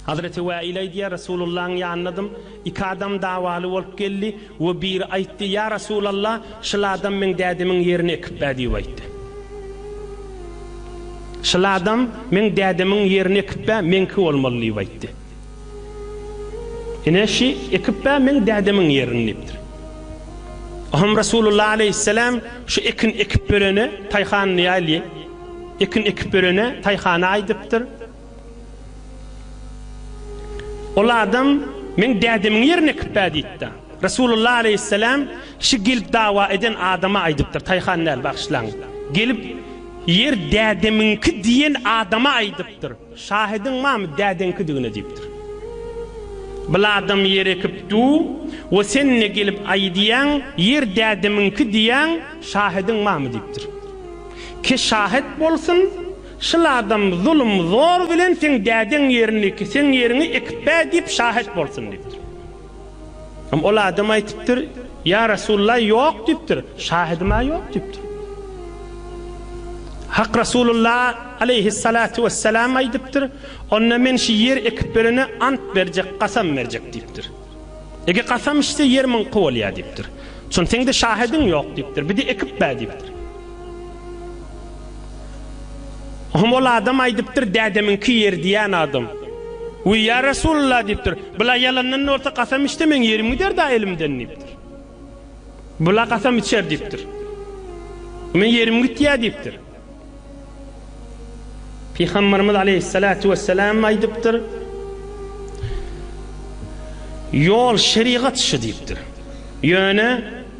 Hazreti Wäil aýdýar, Resulullahyň ýanynadym, iki adam dawaly bolup geldi we biri aýtdy, Ýa Resulallah, şyl adam meň dädemiň ýerini ekip bä diýip aýtdy. Şyl adam meň dädemiň ýerini ekip bä, meňki bolmaly diýip aýtdy. Ine, şy ekip bä meň dädemiň ýerini diýipdir. Oňam Resulullah aleýhisselam şu ekin ekip berene taýhanly ýaly, ekin ekip berene taýhana aýdypdyr. Ol adam meň dädemiň ýerini ekip ber diýipdir. Resulullah aleýhisselam şu gelip dawa eden adama aýdypdyr, taýhan däl, bagyşlaň. Gelip ýer dädemiňki diýen adama aýdypdyr. Şahydyň mamy dädeňkidigine diýipdir. Biladam ýer ekip du we sen ne gelip aýy diýýäň, ýer dädemiňki diýýäň, şahydyň mamy diýipdir. Ki şahyt bolsun, şyl adam zulum zor bilen seň dädeň ýerini ki seň ýeriňi ekip bä diýip şahyt bolsun diýipdir. Ol adam aýtypdyr, Ýa Resulalla, ýok diýipdir. Şahydyma ýok diýipdir. Hak Resulalla aleýhissalatu wessalam aýdypdyr, Onda men şu ýer ekip berene ant berjek, kasam berjek diýipdir. Eger kasam içse ýer myňky bolýar diýipdir. Şony seňde şahydyň ýok diýipdir. Bide ekip ber diýipdir. Hum ol adam aýdypdyr, Dädemiňki ýer diýýän adam. Wiý, ýa Resulalla diýipdir. Bula ýalandan bolsa kasam içse meň ýerim gider-dä elimden diýipdir. Bula kasam içer diýipdir. Men ýerim gitýär diýipdir. Pygamberimiz aleýhissalatu wessalam aýdypdyr, Ýol şerigat şu diýipdir. Ýöne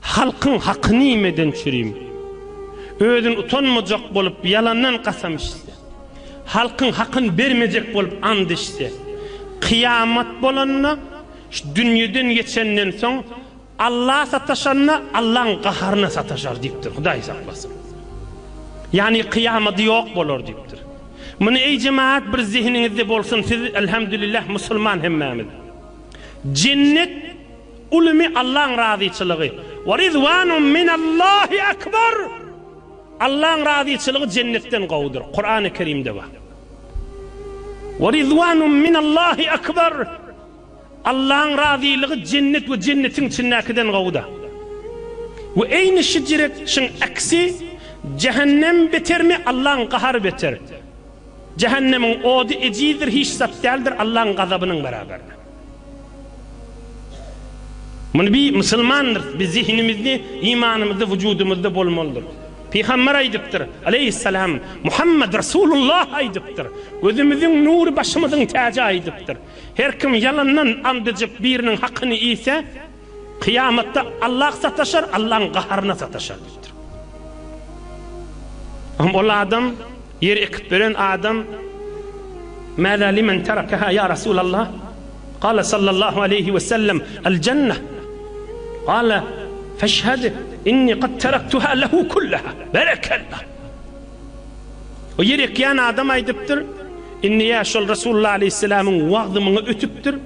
Halkyň hakyny iýmeden çürim. Özün utanmajak bolup ýalandan kasam içse. Halkyň hakyny bermejek bolup ant içse. Kyýamat bolanda, şu dünýeden geçenden soň Alla sataşanda Allaň gaharyna sataşar diýipdir, Hudaý saklasyn. Ýagny kyýamady ýok bolar diýipdir. Muny eý jemagat bir zehiniňizde bolsun siz elhamdülillah musulman hemmämiz. Jennet Ulumy Allaň razyçylygy. Wa ridwanun minallahi akbar! Allaň razyçylygy jennetden gowudyr. Kurany Kerimde bar. Wa ridwanun minallahi akbar! Allaň razylygy jennet we jennetiň içindäkiden gowuda. We eýni şijret şyň aksi, jähennem betermi, Allaň gahary beter. Jähennemiň ody ejizdir hiç zat däldir Allaň gazabynyň beraberine. Muny bi musulmandyrys, biz zehinimizde, imanymyzda, wujudymyzda bolmalydyr. Pygamber aýdypdyr, aleýhissalam, Muhammad Rasulullah aýdypdyr, Gözümiziň nury başymyzyň täji aýdypdyr, Her kim ýalandan and içip biriniň hakyny iýse, Kyýamatda Allah sataşar, Allahyň gaharyna sataşar diýipdir. Hem ol adam, ýer ekip beren adam, Mäzä limen terakaha ýa Resulallah? Gala sallallahu aleýhi we sellem, El jennah. Gala feşhed inni qad teraktuha lehu kullaha. Berekallah. O ýer ekýän adam aýdypdyr, Inni ýa şol Resulullah aleýhissalamyň wagzy muňa ötüpdir.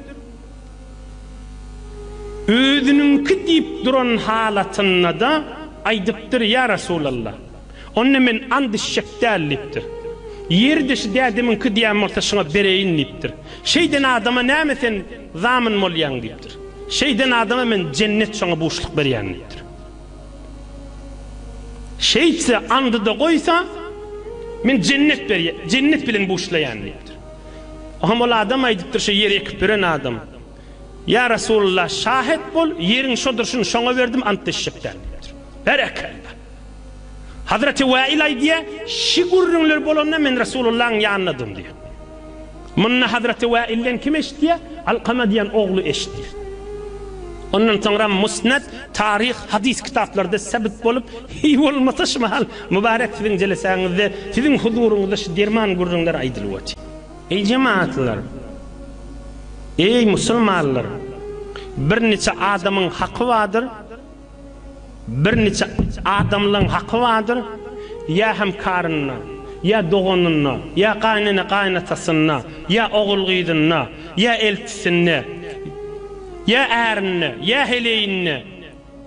Özüniňki diýip duran halatynda-da aýdypdyr, Ýa Resulallah, onda men ant içjek däl diýipdir. Ýeri deşi dädemiňki diýen bolsa şuňa bereýin diýipdir. Şeýden adama näme sen zamin bolýaň diýipdir. Şeýden adama men jennet şoňa buşluk berýän diýipdir. Şeýtse andy-da goýsa, men jennet jennet bilen buşlaýan diýipdir. Oňam ol adam aýdypdyr, Şu ýeri ekip beren adam. Ýa Resulullah, şahet bol, ýeriň şo durşuny şoňa berdim, ant içjek däl diýipdir. Berekella! Hazreti Wäil aýdýar, Şi gürrüňler bolanda men Resulullahyň ýanyndadym diýýär. Muny Hazreti Wäilden kim eşitýär? Alkama diýen ogly eşitýär. Ondan soňra Musned, Taryh, Hadys kitaplarda sebit bolup, hiý bolmasa şu mahal Mubarek siziň jelesäňizde siziň huzuryňyzda şu derman gürrüňler aýdylyp otyr. Eý jemaatlar! Eý musulmanlar! Bir niçe adamyň haky bardyr, bir niçe adamlaň haky bardyr, ýa hemkarynda, ýa doganynda, ýa gaýnene-gaýynatasynda, ýa ogul-gyzynda, ýa eltisinde, ýa ärinde, ýa heleýinde,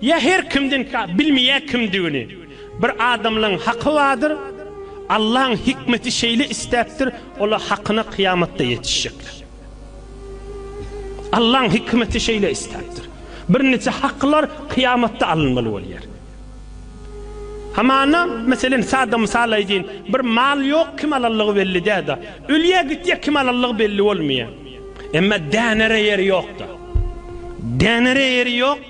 Ýa her kimden ka bilmeýär kimdigini. Bir adamlaň haky bardyr, Allaň hikmeti şeýle istäpdir, ola hakyna kyýamatda ýetişjekler. Allaň hikmeti şeýle istäpdir. Bir niçe haklar kyýamatda alynmaly bolýar. Hamana, meselen, sada mysal aýdýyn, bir mal ýok, kim alanlygy belli däda. Ölýär gitýär, kim alanlygy belli bolmaýar. Emma dänere ýeri ýokda. Dänere ýeri ýok.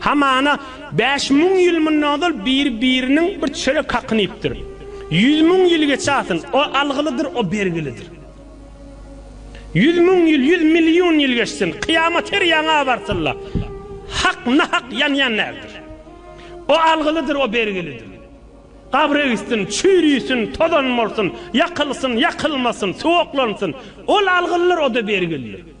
Hamana, bäş müň ýyl mundan ozal bir-biriniň bir çörek hakyny iýipdir. Ýüz müň ýyl geçäsin, o algylydyr, o bergilidir. Ýüz müň ýyl, ýüz million ýyl geçsin, kyýamat her ýaňa abartylda, hak nahak ýanýan däldir. O algylydyr, o bergilidir. Gabry öýsün, çüýrüsün, tozan bolsun, ýakylsyn, ýakylmasyn, suwaklansyn, ol algylydyr, o-da bergilidir.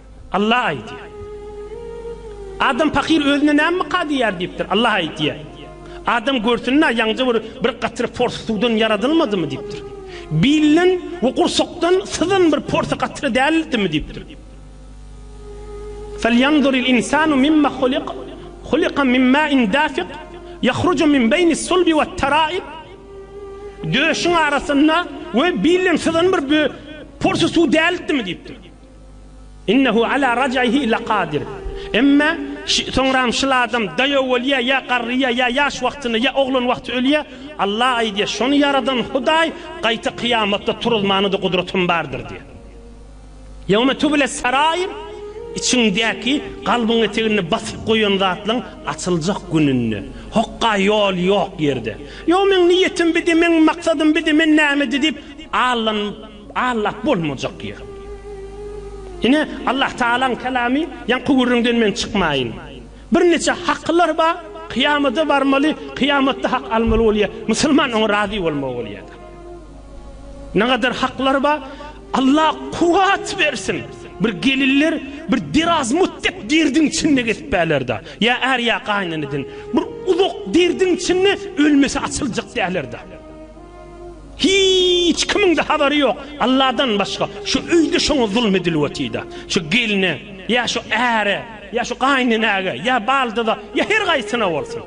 Allah aýdýar. Adam pakyr özüne näme myka diýýär diýipdir. Allah aýdýar. Adam görsün-ä, ýaňja bir bir gatyr pors suwdan ýaradylmadymy diýipdir. Bilden we gursakdan syzan bir pors gatyr däldimi diýipdir. Felýanzuril insanu mimma huliq, huliqa min mäin dafiq, ýahruju min beýnis sulbi we taraib. Döşüň arasynda we bilden syzan bir pors suw däldimi diýipdir. Innehu ala raj'ihi lakadir. Emma soňram şyl adam daýaw bolýar, ýa garrýar, ýa ýaş wagtynda, ýa oglan wagty ölýär. Allah aýdýar, şony ýaradan Hudaý gaýta kyýamatda turuzmana-da gudratym bardyr diýýär. Ýewme tübüles sarair, içiňdäki, kalbyň eteginde basyp goýan zatlaň açyljak gününde. Hokga ýol ýok ýerde. Ýo meň niýetim bidi, meň maksadym bidi, men nämedi diýip allanyp. Aňlap bolmajak ýer. Ine, Allahtagalaň Kelamy, Ýaňky gürrüňden men çykmaýyn. Birniçe hakylar bar, kyýamada barmaly, kyýamatda hak almaly bolýar. Musulman oňa razy bolmaly bolýar-da. Nägadar haklar bar, Alla kuwwat bersin, bir gelinler bir derazmut dek derdiň içinde gezip bärler-da. Ýa är, ýa gaýyneneden bir uzak derdiň içinde ölmese açyljak däller-da. Hiç kimiňde habary ýok Alladan başga şu öýde şoňa zulum edilip otida şu gelne ýa şu äre ýa şu gaýynenäge ýa baldyza ýa her gaýsyna bolsun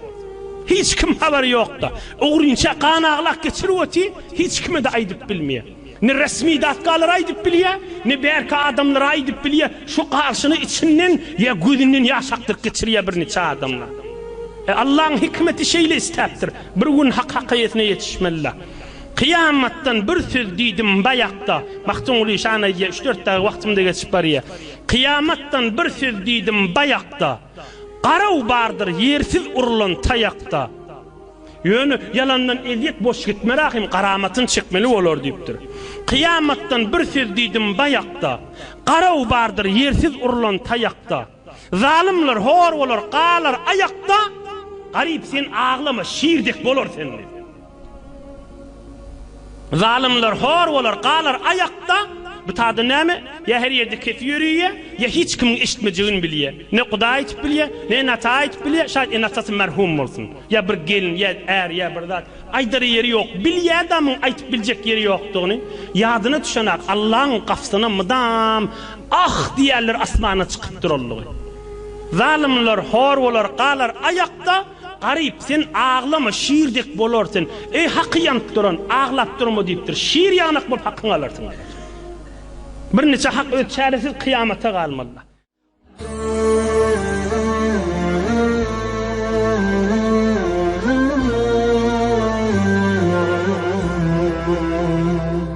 hiç kim habary ýokda ogrynça gan aglak geçirip oty hiç kimede aýdyp bilmeýä Ne resmi datkalar aýdyp bilýä, ne bärki adamlar aýdyp bilýä, şu garşyny içinden ýa gözünden ýaş akdyryp geçirýä birniçe adamlar. E, Allaň hikmeti şeýle istäpdir. Bir gün hak hakaýetine ýetişmelila. Kyýamatdan bir söz diýdim baýakda, Magtymguly şany aýdýa, üç-dört dagy wagtymda geçip barýa. Kyýamatdan bir söz diýdim baýakda, Garaw bardyr ýersiz urulan taýakda. Ýöne ýalandan ezýet boş gitme Rahym garamatyn çekmeli bolar diýipdir. Kyýamatdan bir söz diýdim baýakda, Garaw bardyr ýersiz urlan taýakda. Zalymlar hor bolar galar aýakda, Garyp sen aglama şir dek bolar sende. Zalymlar hor bolar, galar aýakda, bu tada näme, ýa her ýerde kesi ýöriýä, ýa hiç kimiň eşitmejegini bilýä, ne Hudaý aýtyp bilýä, ne ene ata aýtyp bilýä, şaýt ene atasy merhum bolsun, ýa bir gelin, ýa är, ýa bir zat, aýdar ýeri ýok, bilýä adamyň aýtyp biljek ýeri ýokdugyny, ýadyna düşenak Allaň gapysyna mydam Ah! diýerler asmana çykyp durallygy. Zalymlar hor bolar, galar aýakda. Garyp, sen aglama, şir dek bolar sen. Eý, haky ýanyp duran, aglap durma diýipdir. Şir ýanak bolup hakyňy alarsyň diýipdir. Birniçe hak öz çäresiz kyýamata galmalydyr.